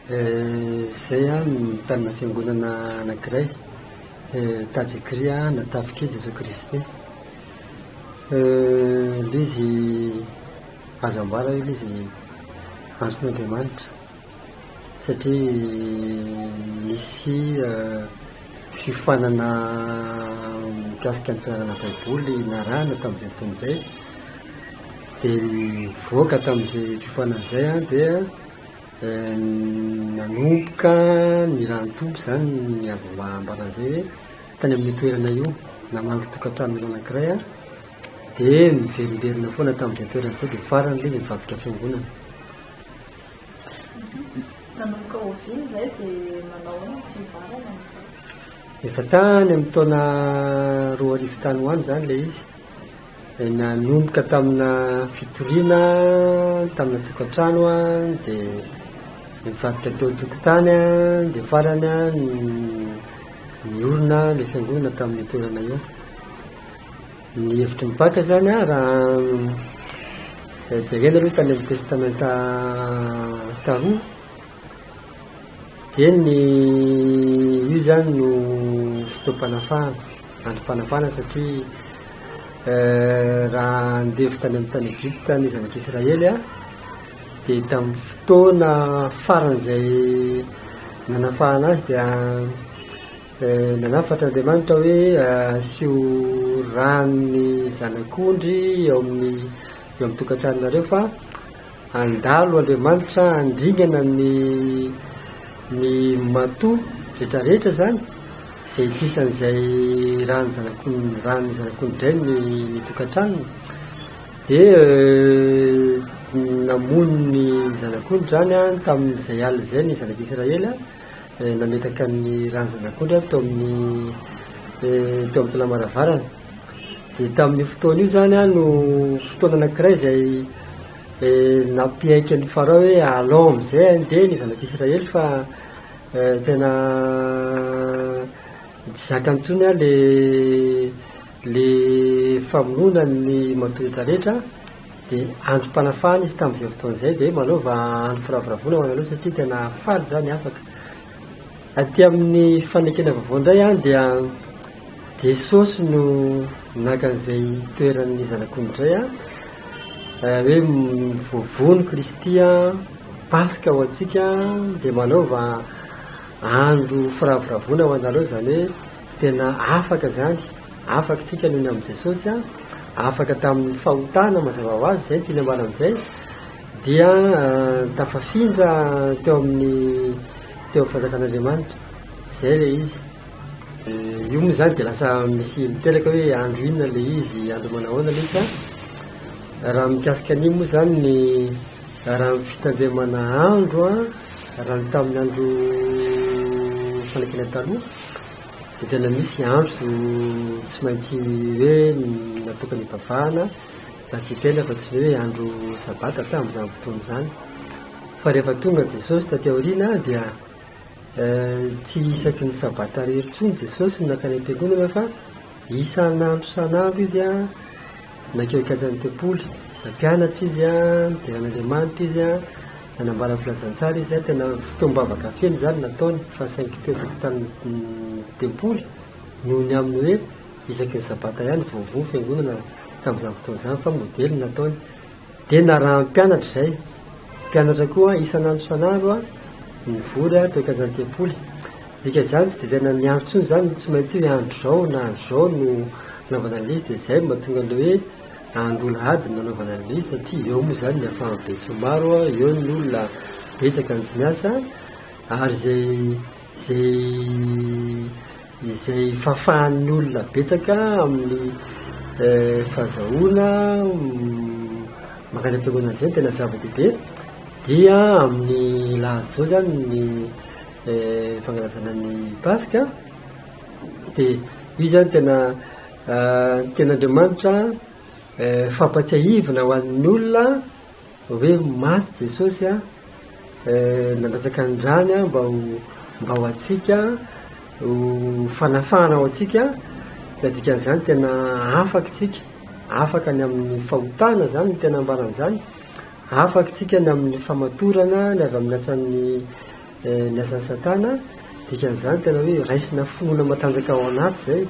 Izay no nitanina fiangonana anankiray Tajikri na Tafika i Jesoa Kristy. Ilay izy azo ambara hoe ilay izy antson'Andriamanitra satria misy fiofanana mikasika ny firadanana baiboly narahana tamin'izay fotoana izay. dia nivoaka tamin'izay fiofanana izay aho dia nanomboka ny raha-nitombo izany ny azo ambara an'izay hoe tany amin'io toerana io namangy tokan-tranon'olona anankiray aho dia niverimberina foana tamin'izay toerana izay dia farany ilay izy nivadika fiangonana. Nanomboka oviana izay dia manao ahoana ny fivoarana amin'izay? Efa tany amin'ny taona roa arivo tany ho any izany ilay izy. Nanomboka tamina fitoriana tamina tokantrano dia nivadika teo an-tokotany dia farany niorina ilay fiangonana tamin'io toerana io. Ny hevitry ny Paka izany raha jerena aloha tany amin'ny testamenta taloha Dia ny io izany no fotoam-panafahana, androm-panafahana satria raha andevo tany amin'ny tany Egypta ny zanak'i Israely an, dia tamin'ny fotoana faran'izay nanafahana azy dia nanafatra Andriamanitra hoe asio rano ny zanak'ondry eo amin'ny eo amin'ny tokantranonareo fa Handalo Andriamanitra handringana ny ny matoa rehetra rehetra izany izay ity sy an'izay ràn'ny zanak'olon ràn'ny zanak'olodrainy ny ny tokantranony. Dia namono ny zanak'ondry izany an tamin'izay alina izay ny zanak'Israely nametaka ny ràn'ny zanak'ondry an tao amin'ny teo amin'ny taolam-pahalavarana. Dia tamin'io fotoana io izany an, no fotoana anankiray izay eh, nampiaiky an'i Farao hoe alao amin'izay handeha ny zanak'Israely fa eh, tena tsy zakany intsony an le le famonoana ny matoa hita rehetra dia androm-panafahana izy tamin'izay fotoana izay dia manaova andro firavoravoana ho anareo satria tena faly izany afaka Aty amin'ny fanekena vaovao indray an, dia Jesosy no naka an'izay toeran'ny zanak'ondry izay an, hoe voavono Kristy an, Paska ho antsika dia manaova andro firavoravoana ho anareo izany hoe tena afaka izany, afaka isika noho ny amin'i Jesosy an, afaka tamin'ny fahotana mazava ho azy izay no tiany ambara amin'izay, dia tafafindra teo amin'ny teo amin'ny fanjakan'Andriamanitra, izay ilay izy. Io moa izany dia lasa misy miteraka hoe andro inona ilay izy, andro manahoana ilay izy an? Raha mikasika an'io moa izany ny raha ny fitandremana andro an, raha ny tamin'ny andro fanakiana taloha dia tena misy andro tsy maintsy hoe natokana hivavahana, natsipelaka tsy hoe andro sabata tamin'izany fotoana izany. Fa rehefa tonga Jesosy taty aoriana dia tsy isaky ny sabata irery intsony Jesosy no nankany am-piangonana fa isan'andro isan'andro izy an, nankeo an-kianjan'ny tempoly. Nampianatra izy an, nidera an'Andriamanitra izy an, nanambara ny filazantsara izy an, tena fotoam-bavaka feno izany no nataony fa saingy tety an-tokotanin'ny tempoly noho ny amin'ny hoe Isaky ny sabata ihany vao voa ny fiangonana tamin'izany fotoana izany fa modely ny nataony. Dia narahan'ny mpianatra izay. Mpianatra koa isan'andro isan'andro nivory teo an-kianjan'ny tempoly. Dika izany tsy dia tena niandry intsony izany, tsy maintsy hoe andro izao na andro izao no hanaovana an'ilay izy. Dia izay no mahatonga an'ilay hoe andro alahady no nanaovana an'ilay izy satria eo moa izany ny ahafahan'ny besinimaro, eo ny olona betsaka no tsy miasa ary izay izay izay fafan'ny olona betsaka amin'ny fahazahoana mankany am-piangonana izay no tena zava-dehibe dia amin'ny alahady izao izany ny fankalazana ny paska dia io izany tena ny tenin'Andriamanitra fampatsiahivina ho an'ny olona hoe maty Jesosy an, nandatsaka ny rany an mba ho antsika, ho fanafahana ho antsika, dia ny dikan'izany tena afaka isika, afaka ny amin'ny fahotana izany no tena ambarany izany, afaka isika ny amin'ny famatorana ny avy amin'ny asan'ny ny asan'i satana, dikan'izany tena hoe raisina finoana matanjaka ao anaty izay,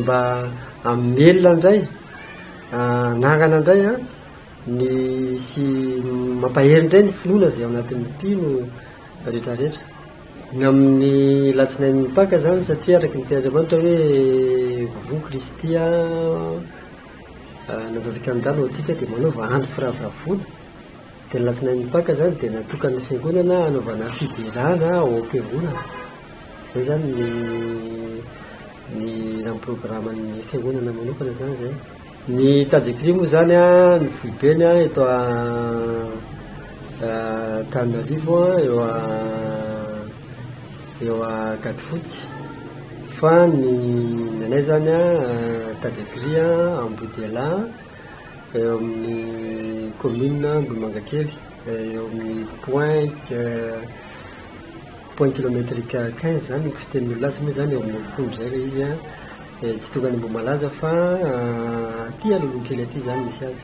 Mba hamelona indray anarana indray an, ny sy mampahery indray ny finoana izay ao anatin'ny mpino rehetra rehetra. Ny amin'ny alatsinain'ny Paka izany satria araka ny tenin'Andriamanitra hoe Voa Kristy nanjajaka ny rà ny ho antsika dia manaova andro firavoravoana. Dia ny latsinain'ny Paka izany dia natokan'ny fiangonana hanaovana fiderana ao am-piangonana. Izay izany ny ny raha ny programan'ny fiangonana manokana izany izay. Ny tady écrit moa izany an, ny foibeny an eto Antananarivo an, eo eo Ankadifotsy, fa ny ny anay izany an, tady écrit an Ambodialahy. eo amin'ny commune Ambohimangakely eo amin'ny point point kilometrique quinze izany ny fitenin'ny olona azy moa izany eo amin'ny roapolo izay ilay izy an, dia tsy tonga any Ambohimalaza fa aty Analonkelikely aty izany misy azy.